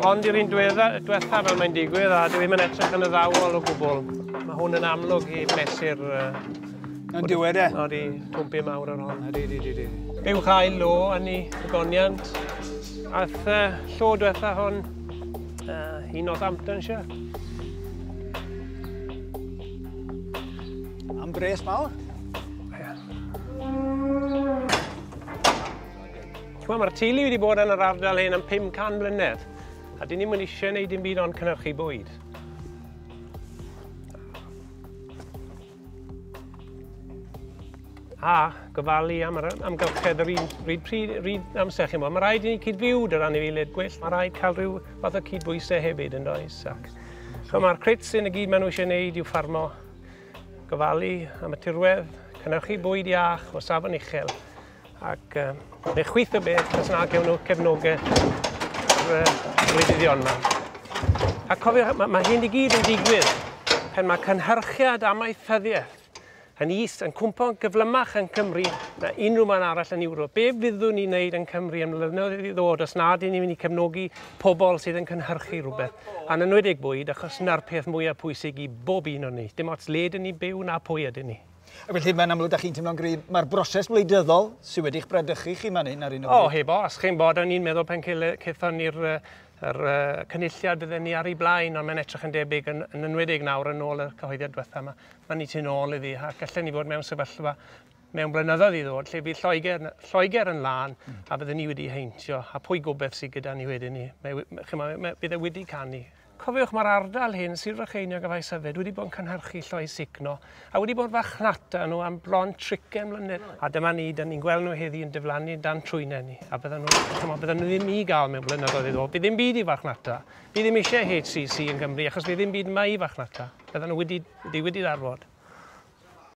Ond i'r un diwetha fel mae'n digwydd a dwi ddim yn edrych yn y ddawol o gwbl. Mae hwn yn amlwg i mesur... Uh, yn diwedd e? O'r i twmpi mawr ar hon. Ydy, ydy, ydy. Fe yw chael lo yn ei goniant. Ath uh, llo diwetha hon uh, i Northamptonshire. Am bres mawr. Ti'n mae'r teulu wedi bod yn yr ardal hyn am 500 mlynedd, a dyn ni'n mynd eisiau gwneud dim byd ond cynnyrchu bwyd. A gofalu am yr amgylchedd yr un, ryd, pryd, ryd amser chi'n bod. Mae rhaid i ni cyd-fyw dy ran i anifeiliaid gwyllt. Mae rhaid cael rhyw fath o cyd-bwysau hefyd yn does. Ac, so mae'r crits sy'n y gyd maen nhw eisiau gwneud i'w ffarmo gofalu am y tirwedd, cynhyrchu bwyd iach o safon uchel, ac uh, neu chwyth o beth os na gewn nhw cefnogaeth rhywyddion yma. A cofiwch, mae, mae hyn i gyd yn digwydd pan mae cynhyrchiad amaethyddiaeth yn is yn cwmpo'n gyflymach yn Cymru na unrhyw man arall yn Ewrop. Be fyddwn ni'n wneud yn Cymru yn mlynyddoedd i ddod os nad ni'n mynd i cefnogi pobl sydd yn cynhyrchu rhywbeth, yn enwedig bwyd, achos 'na'r peth mwyaf pwysig i bob un o ni, dim ots le ydyn ni'n byw na pwy ydyn ni. Ac felly, mae'n amlwg, da chi'n teimlo'n gryf, mae'r broses wleidyddol sydd wedi'ch bradychu chi fan hyn ar un o bryd. O, heb os, chi'n bod, o'n i'n meddwl pan cethon ni'r yr, uh, cynulliad bydden ni ar ei blaen, ond mae'n edrych yn debyg yn, yn enwedig nawr yn ôl y cyhoeddiad diwetha yma. Mae'n ni tu'n ôl iddi, ac allan ni fod mewn sefyllfa mewn blynyddoedd i ddod lle bydd Lloegr, Lloegr yn lân a byddwn ni wedi heintio a pwy gobeith sydd gyda ni wedyn ni. Mae, mae, mae, bydd e wedi canu. Cofiwch mae'r ardal hyn, Sir Frycheiniog a Faes Yfed, wedi bod yn cynhyrchu lloi signo a wedi bod fachnata nhw am bron tricen mlynedd. A dyma ni, dyn ni'n gweld nhw heddi yn diflannu dan trwynau ni a bydden nhw, chymod, bydden nhw ddim i gael mewn blynyddoedd iddo. Bydd ddim byd i fachnata. Bydd ddim eisiau HCC yn Gymru achos bydd ddim byd yma i fachnata. Bydden nhw wedi, wedi, wedi ddarfod.